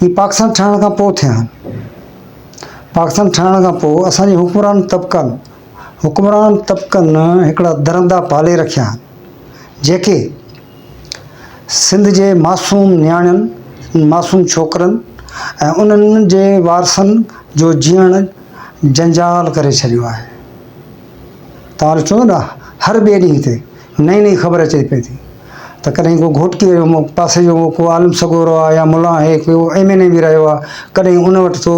اهي پاڪستان ٺهڻ کان پوء ٿيا آهن. پاڪستان ٺهڻ کان پوء اسان جي حڪمران طبقن حڪمران طبقن هڪڙا درندا پالي رکيا آهن، جيڪي سنڌ جي معصوم نياڻين، معصوم ڇوڪرن ۽ انهن جي وارثن جو جيئڻ جنجال ڪري ڇڏيو آهي. توهان ڏٺو نه هر ٻئي ڏينهن تي نئين نئين خبر اچي پئي ٿي ته ڪڏهن ڪو گهوٽڪي جو مو پاسي جو ڪو عالم سڳورو آهي يا ملا آهي ڪو ايم اين اي به رهيو آهي ڪڏهن ان وٽ ٿو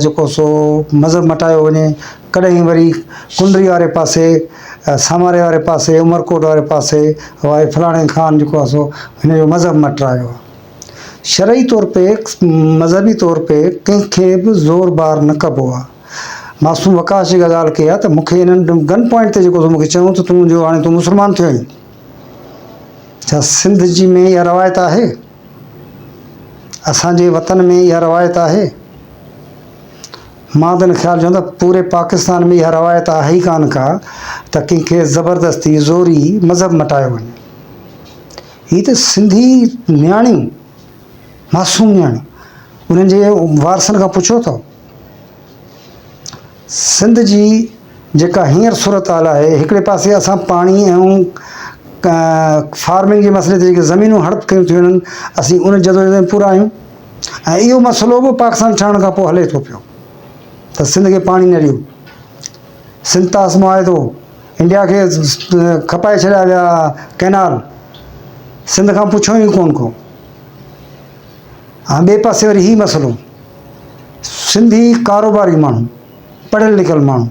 جيڪو سو مذهب مٽايو وڃي ڪڏهن وري ڪنري واري پاسي ساماري واري پاسي عمرڪوٽ واري پاسي وائي فلاڻي خان جيڪو آهي سو هن جو مذهب مٽرايو آهي شرعي طور تي مذهبي طور تي ڪنهن کي به زور بار نه ڪبو آهي معصوم وقاص جيڪا ڳالهه ڪئي آهي ته مون کي انهن گن پوائنٽ تي جيڪو تو مون کي چيون ته تون جو هاڻي تون مسلمان ٿيو آهين ڇا سنڌ جي ۾ اها روايت آهي اسان جي وطن ۾ اها روايت آهي مان ته ان خيال چون ته پوري پاڪستان ۾ اها روايت آهي ئي ڪانه ڪا ته ڪنهن کي زبردستي زوري مذهب مٽايو وڃي هي ته سنڌي نياڻيون معصوم نياڻيون انهن جي وارثن کان پڇو ٿو سنڌ جي جيڪا هينئر صورتحال آهي هڪڙي پاسي اسان پاڻي ۽ فارمنگ جي مسئلي تي جيڪي زمينون هڙپ ڪيون ٿيون وڃن اسين ان جدوجهد ۾ پورا آهيون ۽ اهو مسئلو به پاڪستان ٺهڻ کان پوء هلي ٿو پيو ته سنڌ کي پاڻي نه ڏيو سنڌ تاس معاهدو انڊيا کي کپائي ڇڏيا ويا ڪينال سنڌ کان پڇو ئي ڪون ڪو ها ٻئي پاسي وري هي مسئلو سنڌي ڪاروباري ماڻهو، پڙهيل لکيل ماڻهو،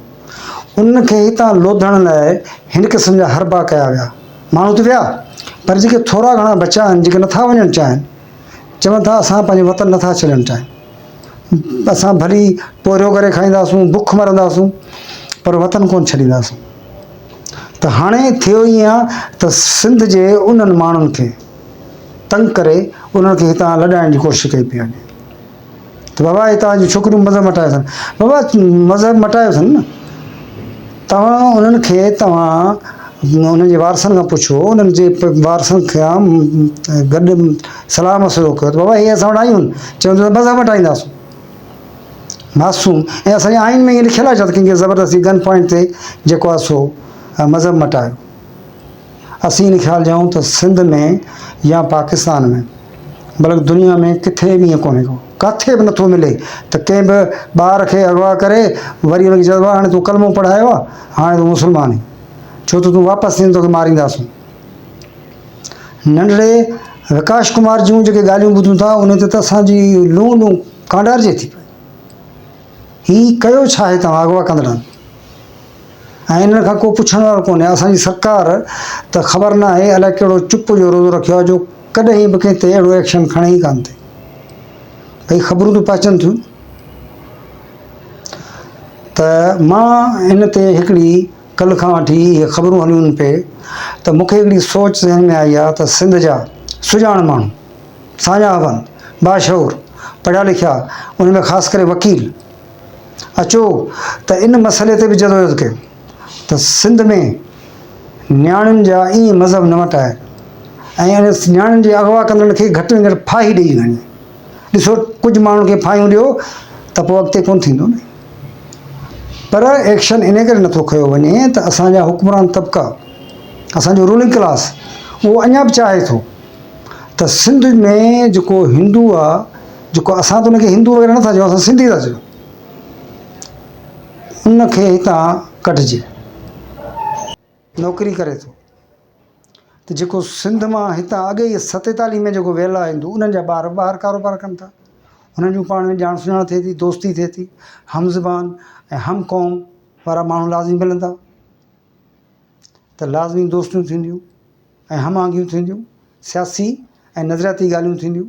انهن کي هتان لوڌڻ لاء هن قسم جا حربا ڪيا ويا. ماڻهو ته ويا، پر جيڪي ٿورا گهڻا بچيا آهن، جيڪي نه ٿا وڃڻ چاهين، چون ٿا اسان پنهنجو وطن نه ٿا ڇڏڻ چاهيون. اسان ڀلي پورهيو ڪري کائينداسون، بک مرنداسون، پر وطن ڪونه ڇڏينداسون. ته هاڻي ٿيو ايئن ته سنڌ جي انهن ماڻهن کي تنگ ڪري انهن کي هتان لڏائڻ جي ڪوشش ڪئي پئي وڃي. ته بابا هي توهان جون ڇوڪريون مذهب مٽايو اٿن. بابا مذهب مٽايو اٿن نه. توهان انهن کي توهان انهن جي وارثن کان پڇو، انهن جي وارثن کان گڏ صلاح مشورو ڪيو ته بابا هي اسان وٽ آيون چون ٿيون ته مذهب مٽائينداسون. معصوم، ۽ اسان جي آئين ۾ ائين لکيل آهي ڇا ته ڪنهن کي زبردستي گن پوائنٽ تي جيڪو آهي سو مذهب مٽايو. اسين ان خيال جي آهيون ته سنڌ ۾ يا پاڪستان ۾ بلڪ دنيا ۾ ڪٿي به ائين ڪونهي ڪو ڪاٿي به نٿو ملي ته ڪنهن به ٻار کي اغوا ڪري وري ان کي چئبو آهي هاڻي تون ڪلمو پڙهايو آهي هاڻي تون مسلمان آهين ڇو ته تون واپس ٿيندين تون کي مارينداسون ننڍڙي وڪاش ڪمار جون جيڪي ڳالهيون ٻڌون ٿا ان تي ته اسانجي لون لون ڪانڊارجي ٿي پئي هي ڪيو ڇا آهي تنهن اغوا ڪندڙن ۽ انهن کان ڪو پڇڻ وارو ڪونهي. اسان جي سرڪار ته خبر ناهي الائي ڪهڙو چپ جو روزو رکيو آهي جو ڪڏهن به ڪنهن تي اهڙو ايڪشن کڻي ئي ڪانه ٿي. ڀئي خبرون ته پهچن ٿيون ته مان هن تي هڪڙي ڪلهه کان وٺي اهي خبرون هليون پئي ته مون کي هڪڙي سوچ ذهن ۾ آئي آهي ته سنڌ جا سڄاڻ ماڻهو، ساڃاهه وند، باشعور، پڙهيا لکيا ان ۾ خاص ڪري وڪيل، اچو ته ان مسئلي تي به جدوجهد ڪيون ته سنڌ ۾ نياڻين جا ائين مذهب نه مٽائي ۽ ان نياڻين جي اغوا ڪندڙن کي گهٽ ۾ گهٽ ڦاهي ڏيئي گهڻي ڏسو ڪجهه ماڻهن کي ڦاهيون ڏيو ته پوء اڳتي ڪونه ٿيندو نه پر ايڪشن ان ڪري نٿو کنيو وڃي ته اسان جا حڪمران طبقا اسان جو رولنگ ڪلاس اهو اڃا به چاهي ٿو ته سنڌ ۾ جيڪو هندو آ جيڪو اسان ته ان کي هندو وغيره نٿا چئون اسان سنڌي ٿا چئون ان کي هتان ڪڍجي. نوڪري ڪري ٿو ته جيڪو سنڌ مان هتان اڳي ئي ستيتاليهه ۾ جيڪو ويل آهي هندو انهن جا ٻار ٻاهر ڪاروبار ڪن ٿا انهن جون پاڻ ۾ ڄاڻ سڃاڻ ٿئي ٿي دوستي ٿئي ٿي هم زبان ۽ هم قوم وارا ماڻهو لازمي ملندا ته لازمي دوستيون ٿينديون ۽ هم آهنگيون ٿينديون سياسي ۽ نظرياتي ڳالهيون ٿينديون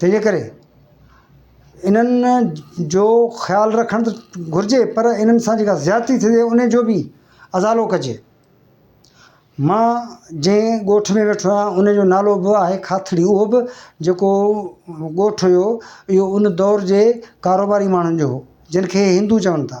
تنهن جي ڪري انهن جو خيال رکڻ ته گهرجي پر انهن سان جيڪا زيادتي ٿي رهي ان جو بي ازالو ڪجي مان جنهن ڳوٺ ۾ ويٺو آهيان ان جو نالو به آهي کاٿڙي اهو به جيڪو ڳوٺ هيو اهو ان دور جي ڪاروباري ماڻهن جو هو جن کي هندو چون ٿا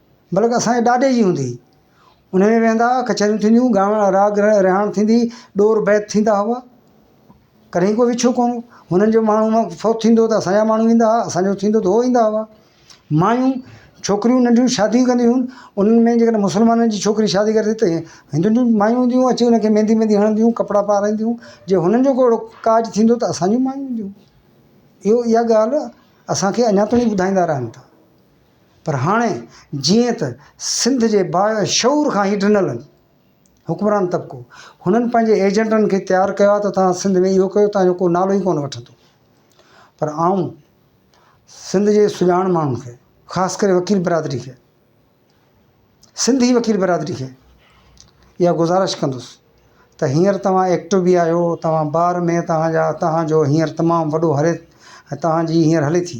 بلڪ اسان جي ڏاڏي جي هوندي هئي. ان ۾ ويهندا هئا، ڪچهريون ٿينديون هيون، ڳائڻ لاء راڳ رهاڻ ٿيندي هئي، ڏور بيت ٿيندا هئا. ڪڏهن ڪو وڇو ڪونه هو. هنن جو ماڻهو فوت ٿيندو هو ته اسان جا ماڻهو ٿيندا هئا، اسان جو ٿيندو ته هو ٿيندا هئا. مايون ڇوڪريون ننڍيون شاديون ڪنديون هيون، انهن ۾ جيڪڏهن مسلمانن جي ڇوڪري شادي ڪري ته هندن جون مايون هونديون هيون اچي انکي ميندي ويندي هڻنديون هيون، ڪپڙا پارائينديون هيون. جي هنن جو ڪو اهڙو ڪاڄ ٿيندو ته اسان جون مايون اينديون هيون. اهو اها ڳالهه اسان کي اڃا تائين ٻڌائيندا رهن ٿا. پر هاڻي جيئن ته سنڌ جي با شعور کان هي ڊنل حڪمران طبقو هنن پنهنجي ايجنٽن کي تيار ڪيو آهي ته توهان سنڌ ۾ اهو ڪيو توهان جو ڪو نالو ئي ڪونه وٺندو پر آئون سنڌ جي سڄاڻ ماڻهن کي خاص ڪري وڪيل برادري کي سنڌي وڪيل برادري کي اها گذارش ڪندس ته هينئر توهان ايڪٽو به آهيو توهان بار ۾ توهان جا توهان جو هينئر تمام وڏو هلي توهان جي هينئر هلي ٿي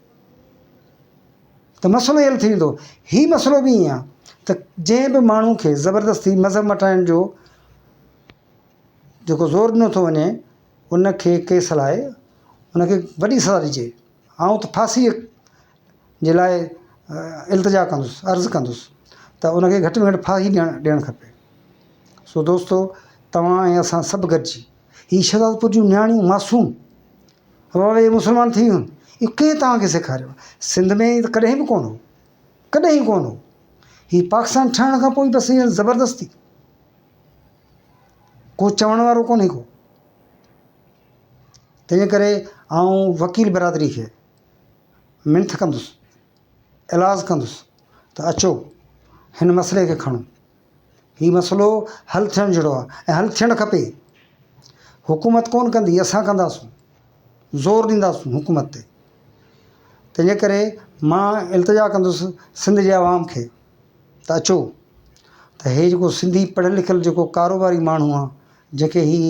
ته مسئلو اي حل ٿي ويندو. هي مسئلو به ائين آهي ته جنهن به ماڻهو کي زبردستي مذهب مٽائڻ جو جيڪو زور ڏنو ٿو وڃي ان کي ڪيس هلائي ان کي وڏي سزا ڏجي. آئون ته ڦاسي جي لاء التجا ڪندس عرض ڪندس ته ان کي گهٽ ۾ گهٽ ڦاسي ڏيڻ ڏيڻ کپي. سو دوستو توهان ۽ اسان سڀ گڏجي هي شهدادپور جون نياڻيون معصوم روئي روئي مسلمان ٿي ويون اهو ڪنهن توهان کي سيکاريو آهي سنڌ ۾ ائين ڪڏهن به ڪونه هو ڪڏهن ئي ڪونه هو هي پاڪستان ٺهڻ کان پوء بس ائين زبردستي ڪو چوڻ وارو ڪونهي ڪو تنهنجي ڪري آئون وڪيل برادري کي منٿ ڪندس ايلاز ڪندس ته اچو هن مسئلي کي کڻو هي مسئلو حل ٿيڻ جهڙو آهي ۽ حل ٿيڻ کپي. حڪومت ڪونه ڪندي اسان ڪنداسون زور ڏينداسون حڪومت تي تنهنجي ڪري مان التجا ڪندس سنڌ جي عوام کي ته اچو ته هي جيڪو سنڌي پڙهيل لکيل جيڪو ڪاروباري ماڻهو آهي جنهن کي هي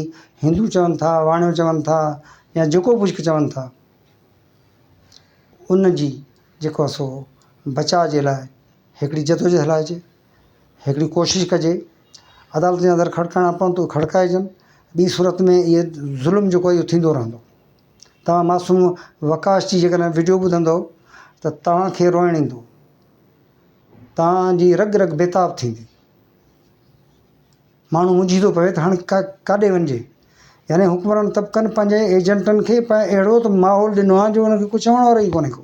هندو چون ٿا واڻيو چون ٿا يا جيڪو ڪجهه چون ٿا ان جي جيڪو سو بچاء جي لاء هڪڙي جدوجهد هلائجي هڪڙي ڪوشش ڪجي عدالتن جا در کڙڪائڻا پون ته کڙڪائجن ٻي صورت ۾ اهي ظلم جيڪو اهو ٿيندو رهندو توهان معصوم وڪاس جي جيڪڏهن وڊيو ٻڌندو ته توهانکي روئڻ ايندو توهان جي رڳ رڳ بيتاب ٿيندي. ماڻهو منجهي ٿو پوي ته هاڻي ڪاڏي وڃجي؟ يعني حڪمران طبقن پنهنجي ايجنٽن کي اهڙو ته ماحول ڏنو آهي جو انهن کي ڪو چوڻ وارو ئي ڪونهي ڪو.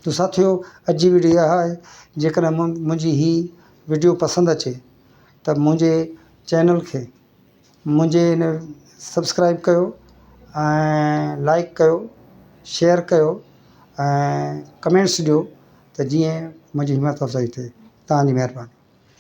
ته ساٿيو عجيب ويڊيو اها آهي جيڪڏهن منهنجي هي ويڊيو پسند اچي ته منهنجي چينل کي منهنجي هن سبسڪرائب ڪيو ۽ لائڪ ڪيو شيئر ڪيو ۽ ڪمينٽس ڏيو ته جيئن منهنجي همٿ افزائي ٿئي تهانجي مهرباني.